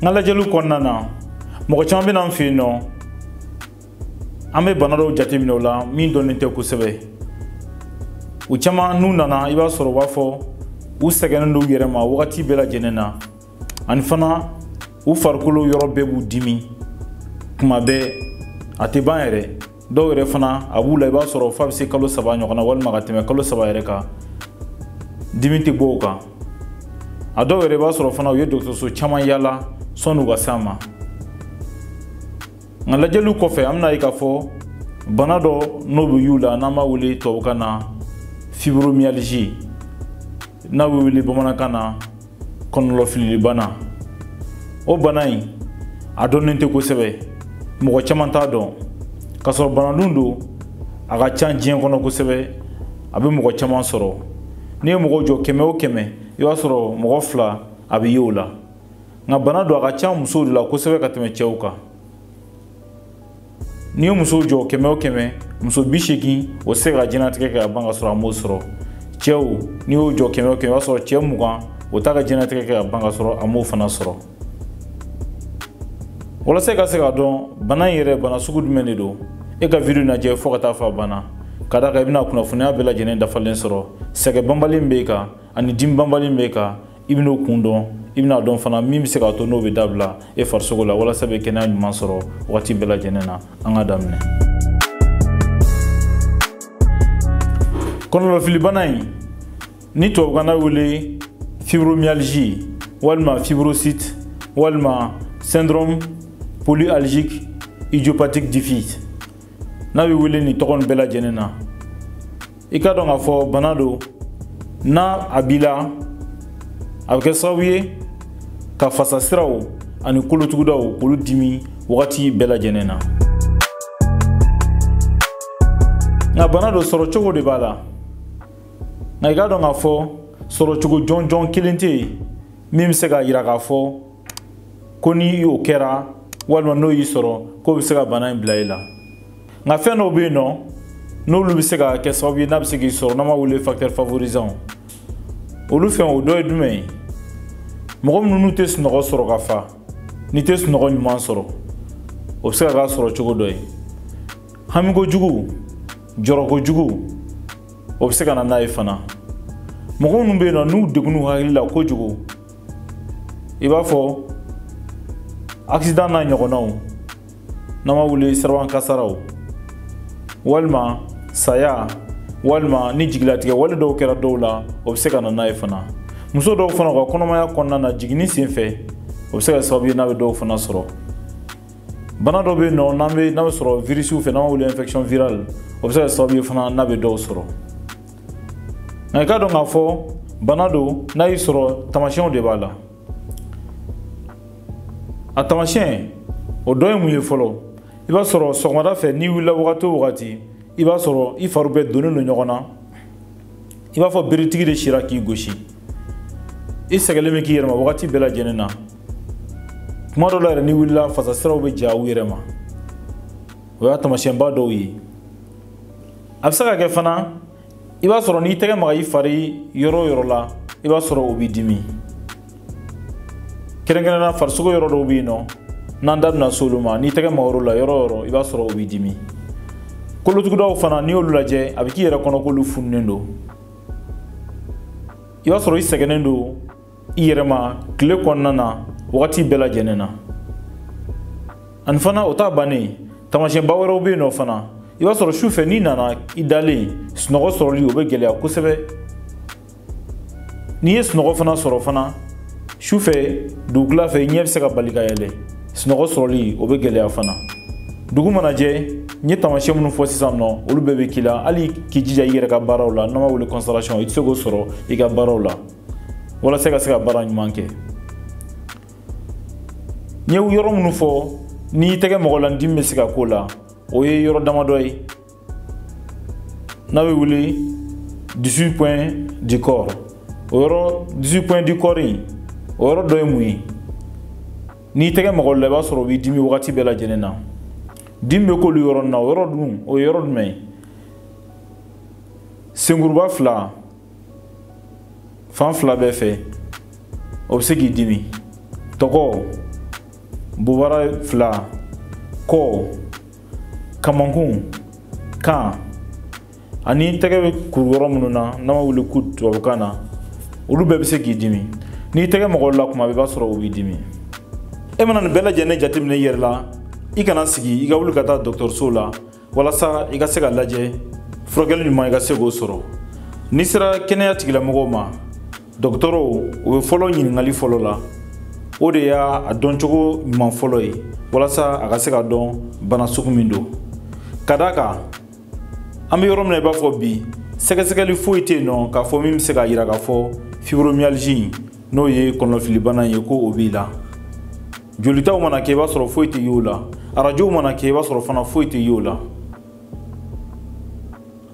n ka lajɛliw kɔnɔna na mɔgɔ caman bɛ na n fɛ yen nɔ an bɛ bana dɔw jateminɛ o la min dɔnnen tɛ kosɛbɛ u caman n'u nana i b'a sɔrɔ u b'a fɔ u sɛgɛnnen don u yɛrɛ ma wagati bɛɛ lajɛlen na ani fana u farikolo yɔrɔ bɛɛ b'u dimi kuma bɛɛ a tɛ ban yɛrɛ dɔw yɛrɛ fana a b'u la i b'a sɔrɔ f'a bɛ se kalo saba ɲɔgɔn na walima ka tɛmɛ kalo saba yɛrɛ kan dimi tɛ bɔ u kan a dɔw yɛrɛ i b'a sɔrɔ fana u ye dɔgɔtɔrɔso caman yaala sɔnni u ka s'an ma nka lajɛliw kɔfɛ an bɛn'a ye k'a fɔ bana dɔ n'o bɛ y'u la n'an b'a wele tubabukan na fibromyalgie n'a bɛ wele bamanankan na kɔnɔlɔfililibana o bana in a dɔnnen tɛ kosɛbɛ mɔgɔ caman t'a dɔn k'a sɔrɔ bana dun don a ka ca diɲɛ kɔnɔ kosɛbɛ a bɛ mɔgɔ caman sɔrɔ n'i ye mɔgɔ jɔ kɛmɛ o kɛmɛ i b'a sɔrɔ mɔgɔ fila a bɛ ye o la nka bana don a ka ca musow de la kosɛbɛ ka tɛmɛ cɛw kan n'i ye muso jɔ kɛmɛ o kɛmɛ muso bi seegin o tɛ se ka diɲɛnatigɛ kɛ ka ban ka sɔrɔ a m'o sɔrɔ cɛw n'i y'o jɔ kɛmɛ o kɛmɛ i b'a sɔrɔ cɛ mugan o t'a ka diɲɛnatigɛ kɛ ka ban ka sɔrɔ a m'o fana sɔrɔ walasa i ka se k'a dɔn bana in yɛrɛ bana sugu jumɛn de don e ka video lajɛ fo ka taa fo a banna ka da kan i bɛna kunnafoniya bɛɛ lajɛlen dafalen sɔrɔ sɛgɛn banbali b'e kan ani dimi banbali b'e kan i bɛn'o kun dɔn i bɛn'a dɔn fana min bɛ se k'a to n'o bɛ dabila e farisogo la walasa bɛ kɛnɛya ɲuman sɔrɔ wagati bɛɛ lajɛlen na an ka daminɛ kɔnɔlɔfilibana in ni tubabukan na wele fibromyalgie walima fibrosite walima syndrome polyalgique idiopathique diffuse n'a bɛ wele nin tɔgɔ nin bɛɛ lajɛlen na i k'a dɔn k'a fɔ bana don n'a a b'i la a bɛ kɛ sababu ye ka fasasiraw ani kolotugudaw k'olu dimi wagati bɛɛ lajɛlen na nka bana don sɔrɔcogo de b'a la nka i k'a dɔn k'a fɔ sɔrɔcogo jɔnjɔn kelen tɛ yen min bɛ se k'a yira k'a fɔ ko ni o kɛra walima n'o y'i sɔrɔ k'o bɛ se ka bana in bila i la nka fɛn dɔw bɛ yen nɔ n'olu bɛ se ka kɛ sababu ye n'a bɛ se k'i sɔrɔ n'an b'a wele facteur favorisant olu fɛn o dɔ ye jumɛn ye mɔgɔ minnu n'u tɛ sunɔgɔ sɔrɔ ka fa n'i tɛ sunɔgɔ ɲuman sɔrɔ o bɛ se ka k'a sɔrɔcogo dɔ ye hami kojugu jɔrɔ kojugu o bɛ se ka na n'a ye fana mɔgɔ minnu bɛ yen nɔ n'u degunn'u hakili la kojugu i b'a fɔ accident n'a ɲɔgɔnnaw n'an b'a wele siraban kasaraw walima saya walima ni jigilatigɛ wale dɔw kɛra dɔw la o bɛ se ka na n'a ye fana muso dɔw fana ka kɔnɔmaya kɔnɔna na jiginni sen fɛ o bɛ se ka sababu ye n'a bɛ dɔw fana sɔrɔ bana dɔ bɛ yen nɔ n'a bɛ sɔrɔ virisiw fɛ n'an b'a wele infection virale o bɛ se ka sababu ye fana n'a bɛ dɔw sɔrɔ nka i k'a dɔn k'a fɔ bana don n'a y'i sɔrɔ taamasiyɛnw de b'a la a taamasiyɛn o dɔ ye mun ye fɔlɔ i b'a sɔrɔ sɔgɔmada fɛ n'i wulila wagati o wagati i b'a sɔrɔ i fari bɛɛ donnen don ɲɔgɔn na i b'a fɔ beretigi de sira k'i gosi i sɛgɛlen bɛ k'i yɛrɛ ma wagati bɛɛ lajɛlen na kuma dɔ la yɛrɛ n'i wulila fasasiraw bɛ ja u yɛrɛ ma o y'a taamasiyɛnba dɔw ye a bɛ se ka kɛ fana i b'a sɔrɔ n'i tɛgɛ maga i fari yɔrɔ o yɔrɔ la i b'a sɔrɔ o b'i dimi kɛrɛnkɛrɛnnenya farisogo yɔrɔ dɔw bɛ yen nɔ n'an da bɛna s'olu ma n'i tɛgɛ mag'o la yɔrɔ o yɔrɔ i b'a sɔrɔ o b'i dimi kolotugudaw fana n'i y'olu lajɛ a bɛ k'i yɛrɛ kɔnɔ k'olu fununen don i b'a sɔrɔ i sɛgɛnnen don i yɛrɛ ma tile kɔnɔna na wagati bɛɛ lajɛlen na ani fana o t'a bannen taamasiyɛnba wɛrɛw bɛ yen nɔ fana i b'a sɔrɔ sufɛ n'i nana i dalen sunɔgɔ sɔrɔli o bɛ gɛlɛya kosɛbɛ n'i ye sunɔgɔ fana sɔrɔ fana sufɛ dugutila fɛ ɲɛ bɛ se ka bali ka yɛlɛ sunɔgɔ sɔrɔli o bɛ gɛlɛya fana dugu mana jɛ n ye taamasiyɛn minnu fɔ sisan nɔ olu bɛɛ bɛ k'i la hali k'i jija i yɛrɛ ka baaraw la n'an b'a wele concentration i tɛ se k'o sɔrɔ i ka baaraw la walasa ka se ka baara ɲuman kɛ n ye yɔrɔ minnu fɔ n'i tɛgɛ mag'o la dimi bɛ se ka k'o la o ye yɔrɔ damadɔ ye n'a bɛ wele 18 points du corps o yɔrɔ 18 points du corps o yɔrɔ dɔ ye mun ye n'i tɛgɛ mag'o la i b'a sɔrɔ o b'i dimi wagati bɛɛ lajɛlen na dimi bɛ k'olu yɔrɔ nin na o yɔrɔ dun o ye yɔrɔ jumɛn ye senkuruba fila fan fila bɛɛ fɛ o bɛ se k'i dimi tɔgɔ bobara fila kɔ kamankun kan ani tɛgɛ bɛ kuru yɔrɔ minnu na n'an b'a wele coude tubabukan na olu bɛɛ bɛ se k'i dimi n'i tɛgɛ mag'o la kuma bɛɛ i b'a sɔrɔ o b'i dimi e mana nin bɛɛ lajɛlen jateminɛ i yɛrɛ la i kana sigi i ka wuli ka taa dɔgɔtɔrɔso la walasa i ka se ka lajɛ furakɛli ɲuman i ka se k'o sɔrɔ n'i sera kɛnɛya tigilamɔgɔw ma dɔgɔtɔrɔw o bɛ fɔlɔ ɲininkali fɔlɔ la o de y'a dɔncogo ɲuman fɔlɔ ye walasa a ka se ka dɔn bana sugu min don ka d'a kan an bɛ yɔrɔ min na i b'a fɔ bi sɛgɛsɛgɛli foyi tɛ yen nɔ k'a fɔ min bɛ se k'a jira k'a fɔ fibromyalgie n'o ye kɔnɔnafilibana ye ko o b'i la jolitaw mana kɛ i b'a sɔrɔ foyi tɛ y'o la arajow mana kɛ i b'a sɔrɔ fana foyi tɛ y'o la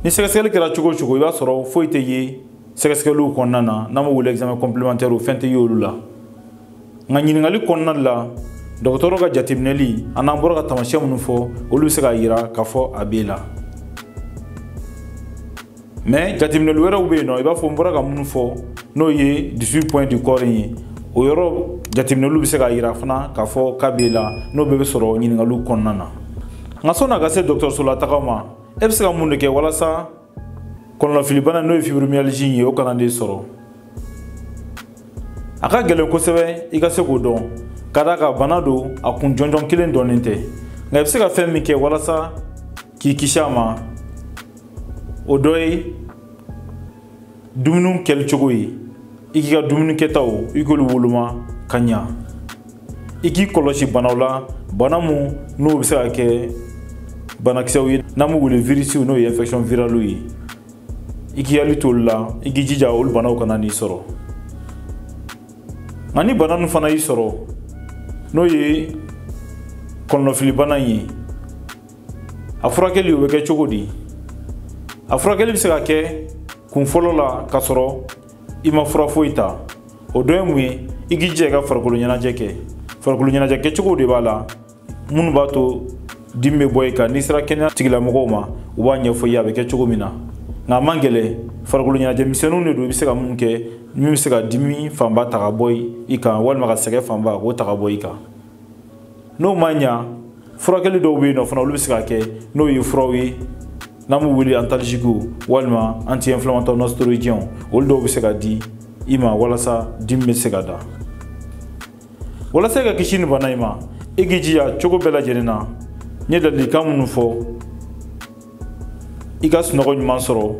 ni sɛgɛsɛgɛli kɛra cogo o cogo i b'a sɔrɔ foyi tɛ ye sɛgɛsɛgɛliw kɔnɔna na n'an b'o wele examen complémentairew fɛn tɛ y'olu la nka ɲininkali kɔnɔna la dɔgɔtɔrɔ ka jateminɛli a n'an bɔra ka taamasiyɛn minnu fɔ olu bɛ se k'a jira k'a fɔ a b'e la mais jateminɛli wɛrɛw bɛ yen nɔ i b'a fɔ n bɔra ka minnu fɔ n'o ye 18 points du corps in ye o yɔrɔ jateminɛliw bɛ se k'a jira fana k'a fɔ k'a b'e la n'o bɛɛ bɛ sɔrɔ ɲininkaliw kɔnɔna na nka sɔnni a ka se dɔgɔtɔrɔsola taga ma e bɛ se ka mun de kɛ walasa kɔnɔnafilibana n'o ye fibromyalgie in ye o kana n'e sɔrɔ a ka gɛlɛn kosɛbɛ i ka se k'o dɔn ka d'a kan bana don a kun jɔnjɔn kelen dɔnnen tɛ nka i bɛ se ka fɛn min kɛ walasa k'i kisi a ma o dɔ ye dumuniw kɛli cogo ye i k'i ka dumuni kɛtaw i k'olu woloma ka ɲa i k'i kɔlɔsi banaw la bana mun n'o bɛ se ka kɛ banakisɛw ye n'an b'u wele virisiw n'o ye infection viraliw ye i k'i hakili t'olu la i k'i jija olu banaw kana n'i sɔrɔ nka ni bana ninnu fana y'i sɔrɔ n'o ye kɔnɔnafilibana in ye a furakɛli o bɛ kɛ cogo di a furakɛli bɛ se ka kɛ kun fɔlɔ la k'a sɔrɔ i ma fura foyi ta o dɔ ye mun ye i k'i jija i ka farikolo ɲɛnajɛ kɛ farikolo ɲɛnajɛ kɛcogow de b'a la minnu b'a to dimi bɛ bɔ i kan n'i sera kɛnɛya tigilamɔgɔw ma u b'a ɲɛfɔ i ye a bɛ kɛ cogo min na nka a man gɛlɛn farikolo ɲɛnajɛ misɛnninw de don i bɛ se ka mun kɛ min bɛ se ka dimi fanba ta ka bɔ i kan walima ka sɛgɛn fanba k'o ta ka bɔ i kan n'o ma ɲa furakɛli dɔw bɛ yen nɔ fana olu bɛ se ka kɛ n'o ye furaw ye n'an b'u wele antalgiquew walima anti inflammatoire non stéroïdienw olu dɔw bɛ se ka di i ma walasa dimi bɛ se ka da walasa i ka kisi nin bana in ma i k'i jija cogo bɛɛ lajɛlen na n ye ladilikan minnu fɔ i ka sunɔgɔ ɲuman sɔrɔ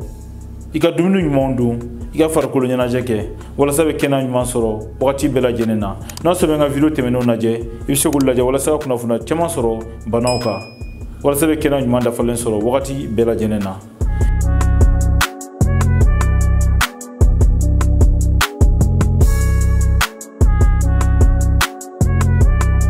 i ka dumuni ɲumanw dun i ka farikolo ɲɛnajɛ kɛ walasa i bɛ kɛnɛya ɲuman sɔrɔ wagati bɛɛ lajɛlen na n'a sɔrɔ i bɛ n ka video tɛmɛnenw lajɛ i bɛ se k'olu lajɛ walasa ka kunnafoniya caman sɔrɔ banaw kan walasa i bɛ kɛnɛya ɲuman dafalen sɔrɔ wagati bɛɛ lajɛlen na